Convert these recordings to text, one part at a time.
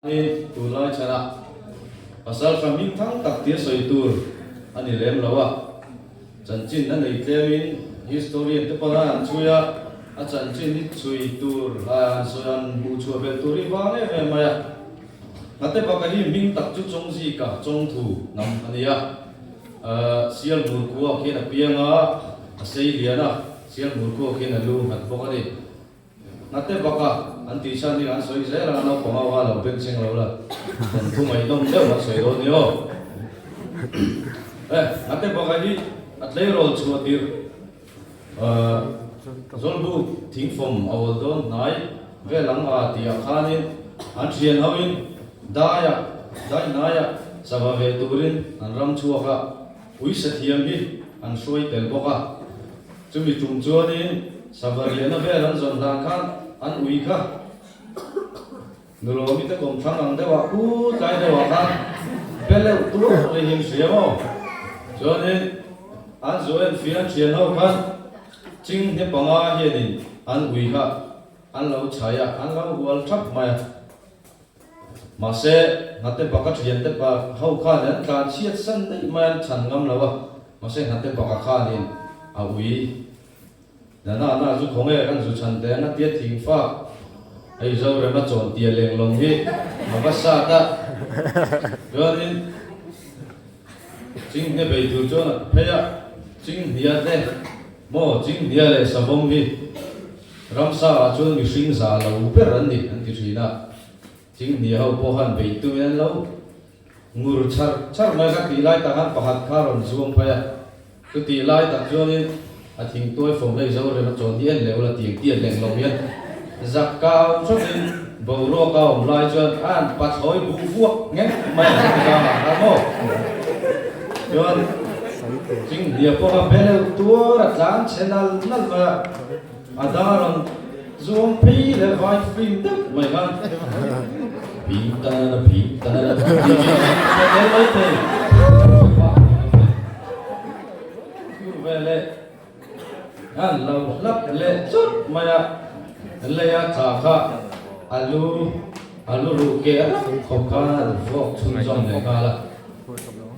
Hei tur lai chhan ah pasal ka hming thang tak tir sawi tur a ni lem lo a, chanchin a nei tlem in historian te pawh lai an chhui a, a chanchin i chhui tur hlai an sawi an hmuh chhuah belh tur hi vang em em mai a, Ngate baka hi hming tak chu chawng zik a, chawng thu hnam a ni a, Sial Murkuak hian a piang a, a sei lian a, Sial Murkuak hian a lu nghat bawk a ni. Ngate baka an tisa hming an sawi zel a, naupang ho ha lo benching lo la, kan thu mai nawm deuh an sawi dawn ni aw. Eh, ngate baka hi a tleirawl chhuah tirh ahh zawlbuk thingfawm a awl dawn hnai vel ang a tih ah khanin an thian ho in dai ah dai hnai ah sava ve turin an ram chhuak a, Puisa thiam hi an hruai tel bawk a. Chumi tum chuanin sava riahna vel an zawn hlan khan an ui kha. Nulawmi te kawm thlang ang deuhah pu tlai deuhah khan beleuh tuah mai hi an hria maw. Chuanin an zu en fir an thian ho khan ching hne panga hianin an ui kha an lo chhai a, an lo hual thap mai a. Mahse, Hnattepa ka thian te pah ho khan an tlan chhiat san daih mai an chhan ngam lo a, mahse Hnattepa ka khanin a ui. Nana na chu khawngek an zu chhan teh ang a tia thing fak. Hei Zorem a chawn tia lenglawng hi a va sat a. Chuanin. Chinghnia bei tur chuan a ti phei a, Chinghnia te maw, Chinghnia leh Sabawm hi Ramsa-ah chuan mihring za lo ber an ni, an ti thin a. Chinghnia ho pawh khan bei tumin an lo ngur chhar chhar mai kha tih lai takah pakhat kha a rawn zuam phei a. Chutih lai tak chuanin a thingtuai fo hei zo rem a chawn hi en leh ula tiang tiat leng lo hian zak ka au chauhin boruak a awm lai chuan an pachhawi bu vuak ngek mai ang ka ti vang ang kha maw chuan ching hliah pawha beleuh tuar a tlang chhe nal nal mai a. A dar ang, zuam phei leh vai fim deuh mai khan bim ta na la bim ta na la tih mai hi a tel mai thei. Tur ve leh khan lo hlap leh chawt mai a, lei a cha kha a lu a lu ruh ke a rak khawp khan a ru fawk chhun zawm leh nghal a.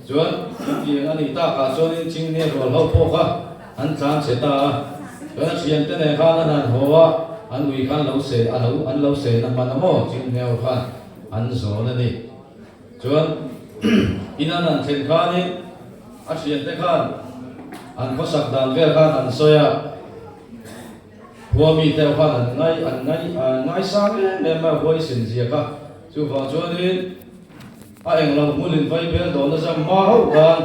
Chuan chutiang a nih tak ah chuan in ching nge rual ho pawh kha. An tlan che ta a, chuan a thiante nen khan an han haw a, an ui khan lo se, a lo, an lo se na hman a maw? Chinghneu khan an zawn a ni. Chuan in an han thlen khanin a thiante khan an khawsak dan vel khan an sawi a, khua mi te ho khan an ngai, an ngai, an ngaisang em em mai a huai sin ziak a, chuvang chuanin. A eng lo hmun in vai bel dawn a zam hma hauh dan.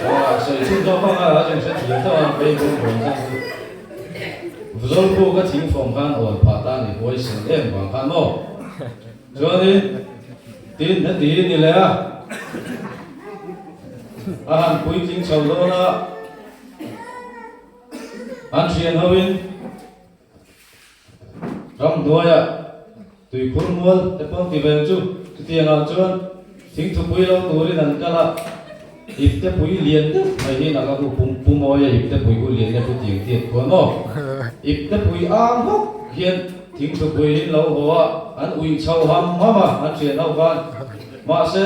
Aw, sawi chhun zawk hmang a, chung hre thiam deuh a, vei bur dawn chang chu. Zawlpu ka thing fawm khan awl phah tan i huai sel em vang khan maw? Chuanin tin hna ti ni leh a, a han puitling chho dawn a, an thian ho in. Ram hnuaia tui khur mual te pawn ti vel chu. Chutiang ah chuan thing thupui lo turin an kal a, ip te pui lian deuh mai hian a ka hu pum pu mawi a, ip te pui hu lian deuh chu tiang chi an khual maw? Ip te pui ang hawk hian thing thupui in lo haw a, an uih chho ham ham a an hriat ho khan. Mahse,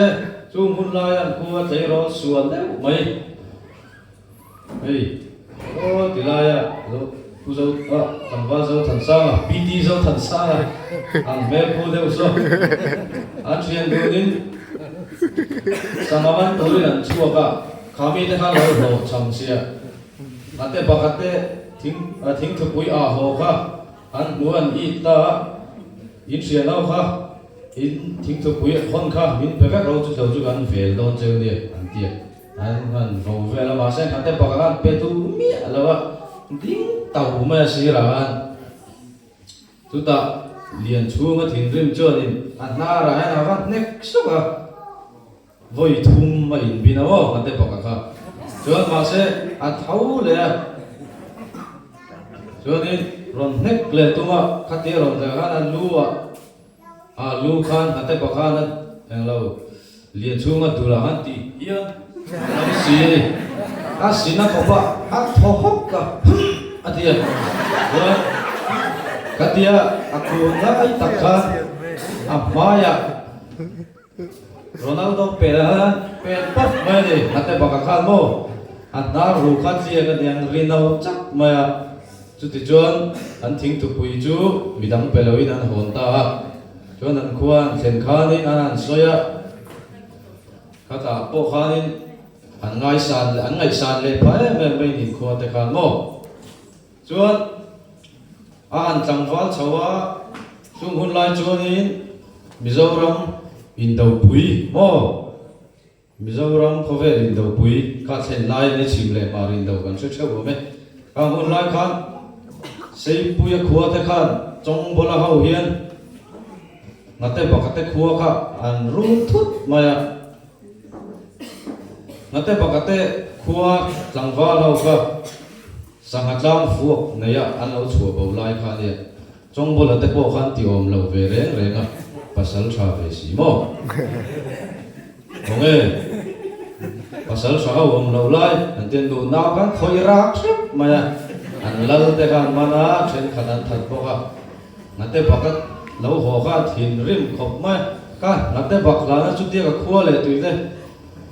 chung hun laia an khua tleirawl sual deuh mai. Hei aw ti laia zo pu zo a tlangval zothansanga pt zothansanga ang hmel pu deuh saw an thian dunin sangha man turin an chhuak a kha mi te khan lo hlawh chhang sia a te pakhat te thing a thing thupui ah haw kha an hmu an it ta a in hria no kha in thing thupui hawn kha min pe vek lo chu chho chu kan vel dawn cheu nia an ti a. An han vo vel a, mahse hnathte pakanga an pe tu miah lo a, ding to mai a sirah hian chutah lian chhunga thinrim chuanin a hnarah hian a va hnek suk a, vawi thum a inbin a maw hnathte paka kha, chuan mahse a tho leh a, chuanin rawn hnek leh tunga khatia rawn zia khan a lu ah. A lu khan hate pakhan a eng lo, lian chhung a dul ah khan ti hian a ni si a ni. A sin a kawp a, a thaw hawk ka hum a ti a, chuan ka tia a kun ngai tak khan a hmai ah. Ronaldo pêl a la, pêl pâwt mai a ni, hate baka khân maw? A hna ru kha chiang a ni ang, ri no chak mai a, chuti chuan an thing tupui chu mi dang pe loin an hawn ta a, chuan an khua'n thlen khânin a han sawi a, khatah pawh khânin an ngaisan, an ngaihsan leh pha em em mai niin khuate khân maw? Chuan a an tlangval chho a, chung hun lai chuanin Mizoram indopui maw? Mizoram khawvel indopui ka thlen lai ani, chhim leh mar indo kan hre theuh awm e. Kang hun lai khan Seipuia khua te khan Chawngbola ho hian Ngate Baka te khua kha an run thut mai a. Ngate Baka te khua tlangval ho kha. Sangha tlang fuak neiha an lo chhuah bo lai kha nia, Chawngbola te pawh khan ti awm lo ve reng reng a, pasal tha ve si maw? Awnge, pasal tha a awm lo lai an ti a, nu nau khan khawi rak hriat mai a, an lal te khan mana thenkhat an that bawk a, Hnate baka lo haw kha a thin rim khawp mai a, ka Hnate bak hlana chutia ka khua leh tui te,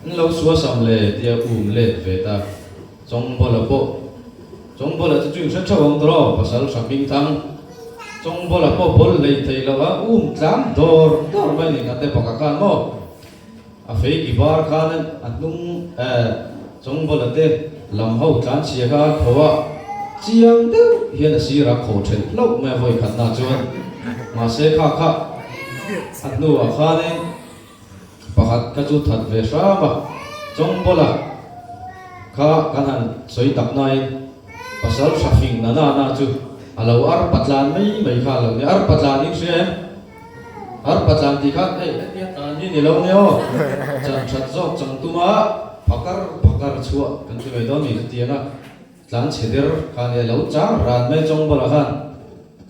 in lo suasam le tia um let ve ta. Chawngbola pawh Chawngbola chu ching hre theuh ang tawh aw pasal hra hming thang Chawngbola pawh bawl lei thei loh a um tlam dawr dawr mai ni ngate bawk a khan maw a feiki var khan a a hnung eh Chawngbola te lam ho tlanchhia kha a kho a chiang deuh hian a sir a kho thelh hlauh mai a vawikhatna ah chuan mahse kha kha a hnu ah khan in. Pakhat ka chu that ve hram a, Chawngbawl a kha kan han sawi tak naiin pasal hra hring na na na chu a lo ar patlan mai mai kha lo nia, ar patlan in hria em? Ar patlan tih khan ei entir tan hi ni lo nia aw, chan that zawk chang tumah phakar phakar chhuah kan ti mai dawn ni chu ti ang a. Tlan chhe ber kha nia lo chang ran mai chawng bulah khan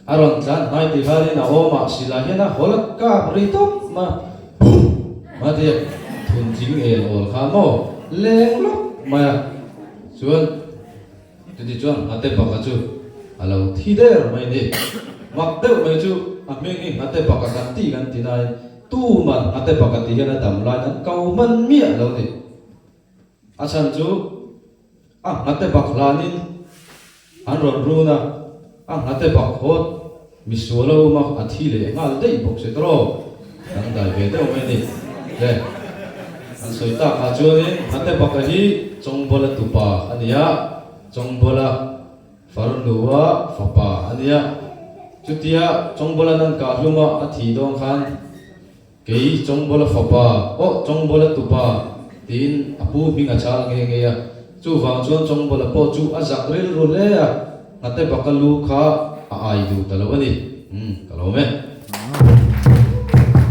a rawn tlan hnai ti khalin a awm a si lah hian a haw la kap ri tawp a pum a ti a thun ching el awl kha maw leng lawp mai a chuan chutih chuan nghate baka chu a lo thi der mai ni mak deuh mai chu a hming hi nghate baka kan ti kan ti nain tuman nghate baka tih hian a dam lain an kau hman miah lo ni a chhan chu A nghate bak hlanin an rawn run a, a nghate bak hawt mi sual a um a, a thi leh nghal daih bawk si tawh aw, dang dai ve deuh mai ni le. An sawi tak ah chuanin nghate baka hi Chawngbuala tupa a ni a, Chawngbuala farnu a fapa a nia. Chutia Chawngbuala nan kah hlum a, a thi dawn khan. Kei Chawngbola fapa, awh Chawngbola tupa, tiin a pu hming a chal ngei ngei a. Chuvang chuan Chawngbola pawh chu a zak rilru hle a, nghate baka lu kha a ai lut a lo a ni. Umm, ka lawm e.